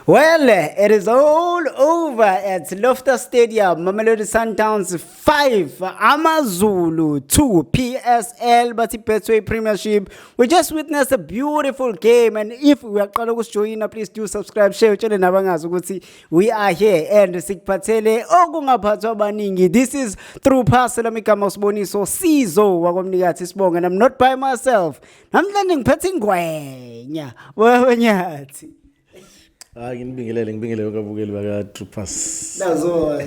Well, it is all over at Loftus Stadium. Mamelodi Sundowns 5, Amazulu 2, PSL but Betway Premiership. We just witnessed a beautiful game and if we are going to join, please do subscribe, share, and nabangazi we are here and sikuphathele okungaphathwa abaningi. This is through Pastor Mikama Sboniso Sizo wakomnikathi Sibonga and I'm not by myself. Namhlanje ngiphethe ingwenya. Wewe nyathi. hayi nginibingelele ngibingelele kwabukeli baka-troopers nazo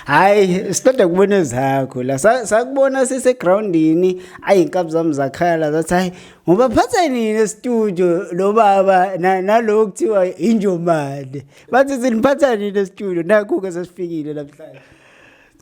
hayi siqeda kubona ezakho la Sa- sakubona sisegrawundini ayi inkabi zami zakhala zathi hayi ngoba phatha nini estudio lo baba na- nalo kuthiwa injomane bathi siniphatha nini estudio nakhu-ke sesifikile namhlanje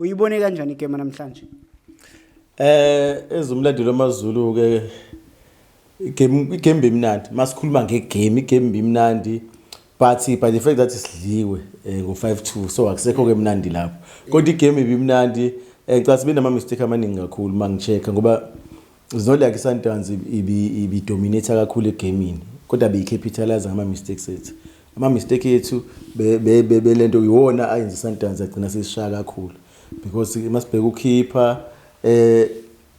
uyibone kanjani igame namhlanje eh ezumlandelo amazulu ke igame igame bimnandi masikhuluma ngegame igame bimnandi but by the fact that sidliwe eh, ngo 5-2 so akusekho ke mnandi lapho kodwa igame ibimnandi eh, ngicela sibe nama mistake amaningi kakhulu mangichecka ngoba It's not like iSundowns ibidominate kakhulu egamini kodwa beyicapitalise ngama-mistakes ethu ama-mistake ethu bele nto yiwona ayenza iSundowns agcina sesishaya kakhulu because masibheka ukhipha um eh,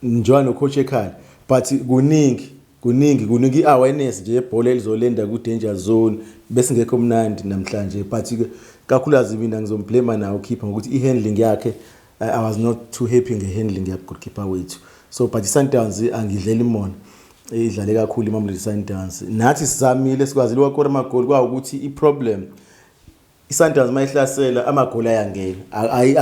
njengoba nocoach ekhala but kuningi kuningi kuningi i-awareness nje yebhola elizolenda ku-danger zone besingekho mnandi namhlanje but kakhulukazi mina ngizomblema nawo ukhipha ngokuthi i-handling yakhe I, I was not too happy ngehandling yabgoalkeeper wethu so but isundowns angidleli mona idlale kakhulu imamelodi sundowns nathi sizamile sikwazile wakora amagoli kwawukuthi iproblem isundowns uma ihlasela amagoli ayangena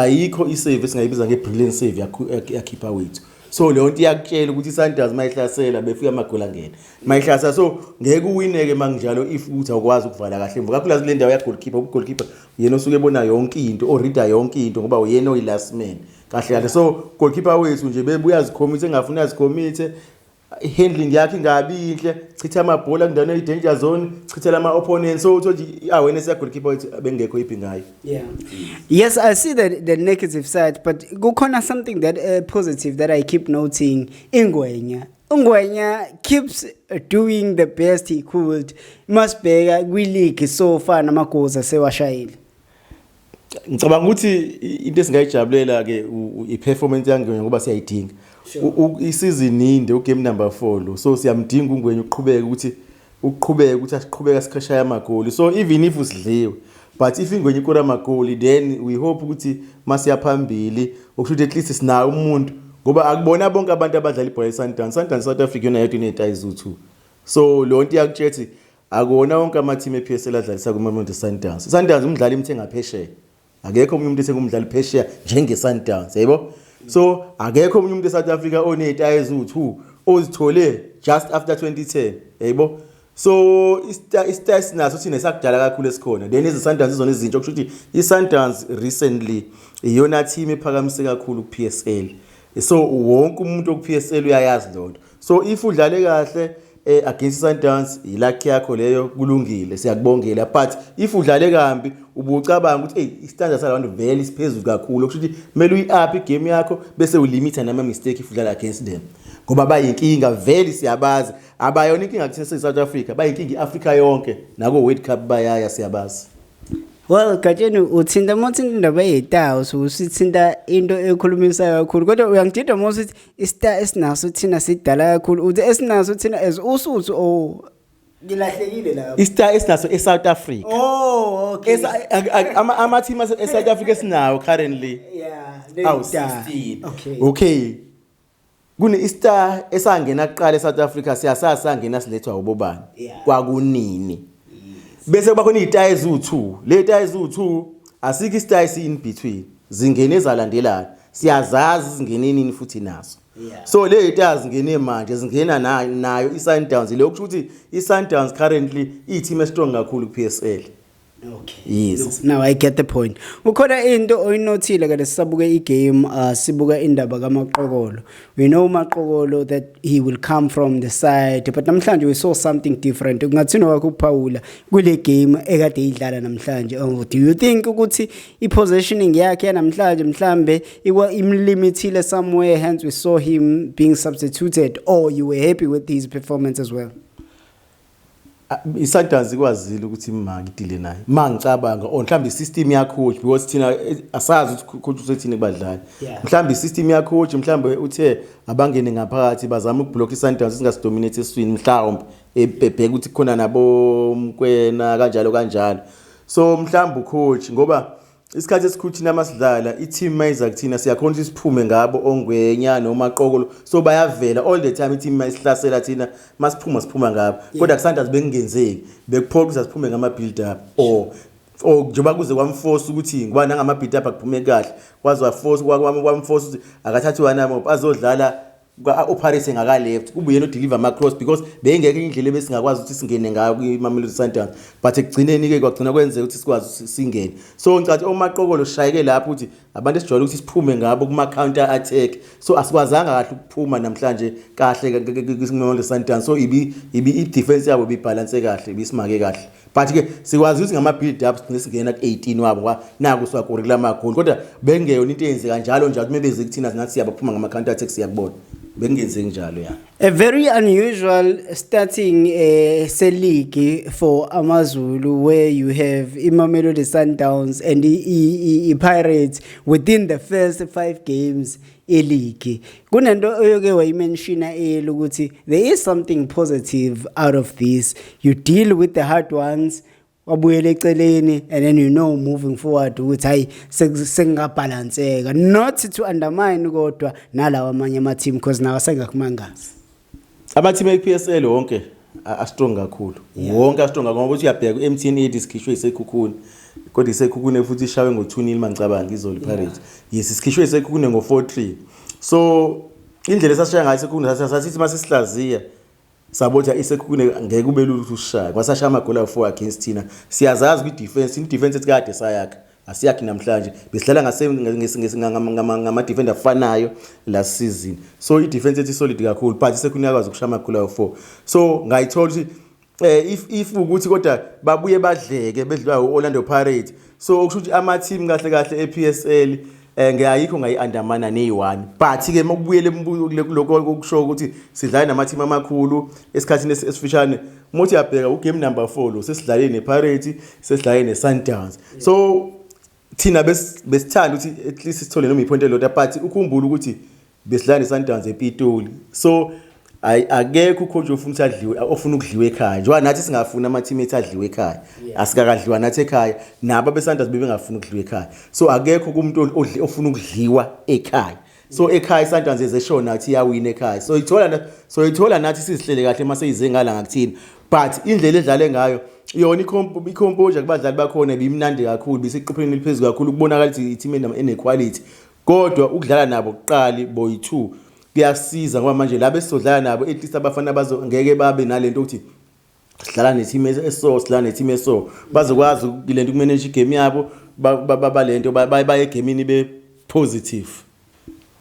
ayikho isave esingayibiza nge-brilliant save yakhipha wethu so leyo nto iyakutshela ukuthi isundowns uma ihlasela befika amagoli angena uma ihlasela so ngeke uwineke uma kunjalo if ukuthi awukwazi ukuvala kahle mva kakhulu azile ndawo yagolikhipha ubugolikhipha yena osuke ebona yonke into orida yonke into ngoba uyena oyi-last man kahle kahle so goalkeeper wethu nje bebuya zikhomithe engafuni azikhomithe handling yakhe ingabi yinhle chitha amabhola kundaweni eyi-danger zone chithela ama-opponent so uthole ukuthi i-awareness yagolkipa wethu bengekho iphi ngayo yeah yes i see the, the negative side but kukhona something that uh, positive that i keep noting ingwenya ungwenya keeps doing the best he could masibheka kwileague so far namagoals asewashayile ngicabanga ukuthi into esingayijabulela ke i-performance yangwenya ngoba siyayidinga isizini inde ugame number four lo so siyamdinga ungwenya uqhubeke ukuthi ukuqhubeka ukuthi asiqhubeka sikhashaya amagoli so even if usidliwe but if ingwenye ikora amagoli then we hope ukuthi masiya phambili okusho ukuthi at least sinayo umuntu ngoba akubona bonke abantu abadlala ibhola i-sundowns sundowns south africa yona yedwa iney'tayi zu-two so leyo nto iyakutshethi akuwona wonke amathimu e-p s l adlalisa kuma-mount sundowns sundowns umdlali imthe ngaphesheya akekho omunye umuntu esengumdlali phesheya njengeSundowns yebo so akekho omunye umuntu eSouth Africa onezitayi eziwu-2 ozithole just after 2010 yebo so isitayi sinaso thina sakudala kakhulu esikhona then iziSundowns izona izintsha okusho ukuthi iSundowns recently iyona team ephakamise kakhulu ku-PSL so wonke umuntu oku-PSL uyayazi loo nto so if udlale kahle eh, against Sundowns yilakhi yakho leyo kulungile siyakubongela but if udlale kambi ubucabanga ukuthi hey istandard salabantu vele siphezulu kakhulu kusho ukuthi kumele uyi-up igame yakho bese ulimitha nama-mistake if udlala against them ngoba bayinkinga vele siyabazi abayona inkinga kuthina siyi-south africa bayinkinga i-afrika yonke nako-world cup bayaya siyabazi well gatsheni uthinta uma uthinta indaba eyitawu so usithinta into ekhulumisayo kakhulu kodwa uyangidida uma usithi istar esinaso thina sidala kakhulu uthi esinaso thina as usuthu o oh, ngilahlekile la istar esinaso eSouth Africa oh okay ama ama team eSouth Africa esinawo currently yeah awu 16 okay okay kune istar esangena kuqala eSouth Africa siyasasa ngena silethwa ubobani kwakunini bese kuba khona izitayi eziwu2 le tayi eziwu2 asikho isitayi si in between zingene zalandelana siyazazi zingene nini futhi nazo yeah. so le yita zingene manje zingena nayo i-sundowns leyo kusho ukuthi i-sundowns currently iyithim estrong kakhulu ku-p s l Okay. Yes. Now I get the point. Ukhona into oyinothile ke lesisabuke igame uh, sibuka indaba kaMaqokolo. we know maqokolo that he will come from the side but namhlanje we saw something different kungathini wakho ukuphawula kule game ekade idlala namhlanje oh, do you think ukuthi i-positioning yakhe namhlanje mhlambe imlimithile somewhere hence we saw him being substituted or you were happy with his performance as well isatanzi kwazile ukuthi ma ngidile naye ma ngicabanga or oh, mhlawumbe i-system yacoach because thina eh, asazi ukuthi coach usethini kubadlali mhlawumbe i-system yacoach mhlawumbe uthe abangene ngaphakathi bazama ukubhlokha isantanzi singasidominate eswini mhlawumbe ebheka ukuthi khona nabomkwena kanjalo kanjalo so mhlawumbe ucoach ngoba Isikhathi esikhulu thina masidlala i-team mayiza kuthina siyakhona ukuthi siphume ngabo ongwenya noma qokolo so bayavela all the time i-team mayisihlasela thina masiphuma siphuma ngabo kodwa kusanda bekungenzeki bekuphoqa ukuthi siphume ngama build up or or njengoba kuze kwamforce ukuthi ngoba nangama build up akuphume kahle kwaze waforce kwamforce ukuthi akathathi wana mop azodlala uParis engakaleft kube yena odeliver ama-cross because beyingeke indlela ebesingakwazi ukuthi singene ngayo kwimamelodi sundowns but ekugcineni-ke kwagcina kwenzeka ukuthi sikwazi singene so ngicathi omaqokolo shayeke lapho ukuthi abantu esijwayele ukuthi siphume ngabo kuma-counter attack so asikwazanga kahle ukuphuma namhlanje kahle kwimamelodi sundowns so ibi-defense yabo ibibhalanse kahle ibisimake kahle but ke sikwazi ukuthi ngama build ups thina singena ku 18 wabo kwa naku swakuri kula magoli kodwa bengeyona into eyenze kanjalo njalo uma beze kuthina singathi siyabaphuma ngama counter attacks yakubona bengenze njalo ya a very unusual starting uh, se league for amazulu where you have imamelodi sundowns and i-pirates within the first five games eligi kunento oyoke wayimenshina eyela ukuthi there is something positive out of this you deal with the hard ones wabuyela eceleni and then you know moving forward ukuthi hayi sekungabhalanseka not to undermine kodwa nalawa amanye ama-team because nawo asengakumangazi Amathimba ePSL wonke astrong kakhulu. Wonke astrong ngoba uthi uyabheka uMTN ethi sikhishwe isekhukhuni. Kodwa isekhukhune futhi ishawe ngo-2-0 mangicabanga izoli Pirates. Yes, sikhishwe isekhukhune ngo-4-3. So indlela esasishaya ngayo isekhukhune sasithi uma sisihlaziya sabothi isekhukhune ngeke ube lula ukuthi usishaye. Kwasashaya amagoli awu-4 against thina. Siyazazi kwi-defense, i-defense ethi kade sayakha. asiyakhi namhlanje besidlala ngamadefenda afanayo last season so idefense ethi solid kakhulu but sekhona iyakwazi ukushaya amakhulu ayo four so ngayithola ukuthi um if if ukuthi kodwa babuye badleke bedliwa u-orlando pirate so okusho ukuthi ama-team kahle kahle e-p s l eh ngiyayikho ngayiandamana neyi-1 but ke mokubuyele kuloko okusho ukuthi sidlale namathimi amakhulu esikhathini esifishane muthi yabheka ugame number 4 lo sesidlale nepirates sesidlale nesundowns so thina besithanda ukuthi at least sithole noma iphonto elilodwa but ukhumbule ukuthi besidlala neSundowns ePitoli so hayi akekho ucoach ofuna ukuthi adliwe ofuna ukudliwa ekhaya njengoba nathi singafuni ama-team ethu adliwe ekhaya asikakadliwa nathi ekhaya nabo abesanders bebengafuni ukudliwa ekhaya so akekho kumuntu ofuna ukudliwa ekhaya so ekhaya isundowns ezeshona ukuthi iyawina ekhaya so ithola so ithola nathi sizihlele kahle uma seyize ngala ngakuthina but indlela edlale ngayo yona i-composure kubadlali bakhona bimnandi kakhulu bisiqopheleni eliphezulu kakhulu kubonakala ukuthi i-team enequality Kodwa ukudlala nabo kuqali boy two kuyasiza ngoba manje laba esizodlala nabo at least abafana bazo ngeke babe nalento ukuthi sidlala ne-team eso sidlala ne-team eso bazokwazi le nto ukumanage igame yabo bale nto baye egemini be-positive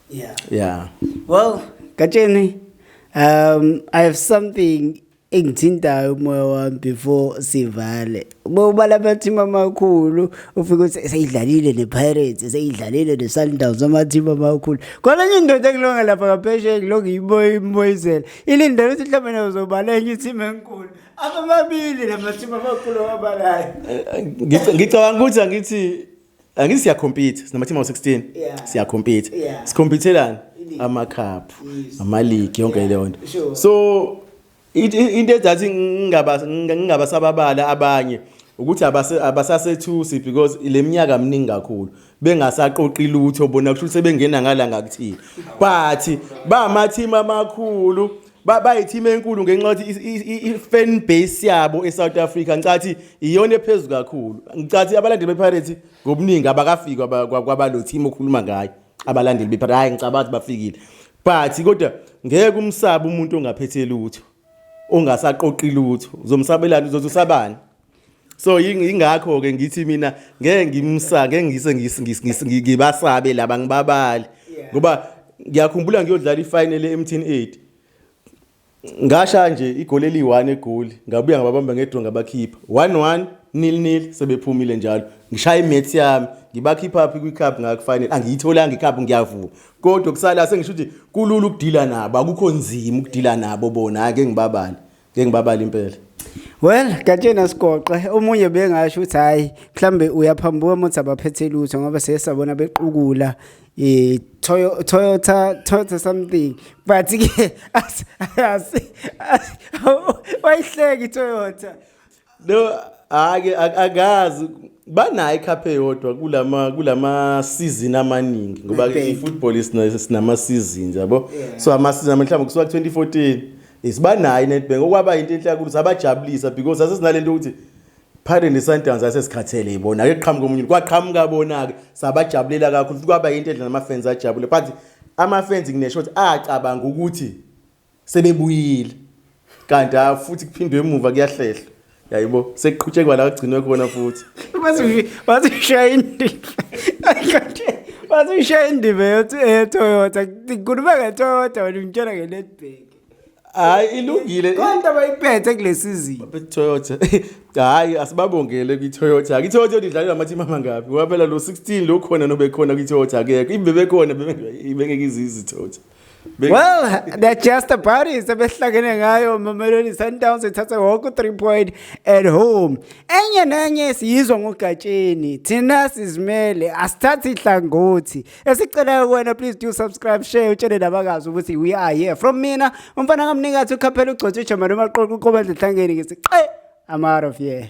yeah yeah well gatsheni um i have something engithintayo umoya wami before sivale bobala amathimu amakhulu ufike uthi seyidlalile ne-pirates seyidlalile ne-sundowns amathimu amakhulu khona enye indoda engilonga lapha ngaphesheya ngilonga iboye imboyizela ilindele ukuthi mhlawumbe nazobaleka enye ithimu enkulu abamabili la mathimu amakhulu awabalayo ngicabanga ukuthi angithi angithi siyakhompitha sinamathima ngo-16 Yeah. siyakhompitha Yeah. sikhompithelani Iligi. amakhaphu Yes. amaligi yonke Yeah, leyo nto sure. so it- i- into ezathi ngingaba- nginga- ngingabasababala abanye ukuthi abase- abasasethusi because le minyaka mningi kakhulu bengasaqoqi lutho bona kusho ukuthi sebengena ngala ngakuthile but bamathimu amakhulu bayithima enkulu ngenxa yokuthi i-fan base yabo e-south africa ngicathi iyona ephezulu kakhulu ngicathi abalandeli bepirates ngobuningi abakafiki kwabalo team okhuluma ngayo abalandeli bepirates hhayi ngicaba ukuthi bafikile but kodwa ngeke umsabe umuntu ongaphethe lutho ongasaqoqi lutho uzomsabelani uzothi usabani so ingakho ke ngithi mina ngeke ngimsa ngeke ngise ngibasabe laba ngibabali ngoba ngiyakhumbula ngiyodlala ifinal eMthin 8 ngasha nje igoli eliyi-1 egoli ngabuya ngababamba ngedro ngabakhipha 1-1 nil nil sebephumile njalo ngishaya imaths yami ngibakhipha phi kwicup ngakufanele angiyitholanga icup ngiyavuma kodwa kusala sengisho ukuthi kulula ukudila nabo akukho nzima ukudila nabo bona ake ngibabale ngeke ngibabale impela Well, Gatsheni asigoqe omunye bengasho ukuthi hayi mhlambe uyaphambuka ukuthi abaphethe lutho ngoba sesabona bequkula eh Toyota Toyota something but ke asihleki Toyota No ake akazi banayo icup eyodwa kulama kulama season amaningi ngoba ifootball isinama seasons yabo so ama season mhlawumbe kusuka 2014 isibanayo iNetbank okwaba into enhle kakhulu sabajabulisa because asesinalento ukuthi phakathi nesundowns asesikhathele ibona ake qhamuka omunye kwaqhamuka bona-ke sabajabulela kakhulu futhi kwaba yinto edla namafenzi ajabule but amafenzi nginesho ukuthi acabanga ukuthi sebebuyile kanti ah, futhi kuphindwe emuva kuyahlehlwa yayibo sekuqhutshekwa la kugcinwe khona futhi bazishaya indima bazishaya indima yotoyota eh, ngikhuluma ngetoyota wena ngitshela ngenetbank hayi ilungile konke abayiphethe kule sizini toyota hayi asibabongele kwitoyota ke itoyota idlale namathimu amangabi ngoba phela lo 16 lo khona nobekhona kwitoyota akekho ibe bekhona bebengeke izizi toyota well they're just a party sebehlangene ngayo mamelodi sundowns ithathe wonke u-three point at home enye nenye siyizwa ngogatsheni thina sizimele asithathi ihlangothi esicelayo kuwena please do subscribe share utshele nabakazi ukuthi we are here from mina umfana kamnikathi ukhaphela ugcotshwa ijamani umaqoqo uqobandla ehlangeni ngisiqe i'm out of here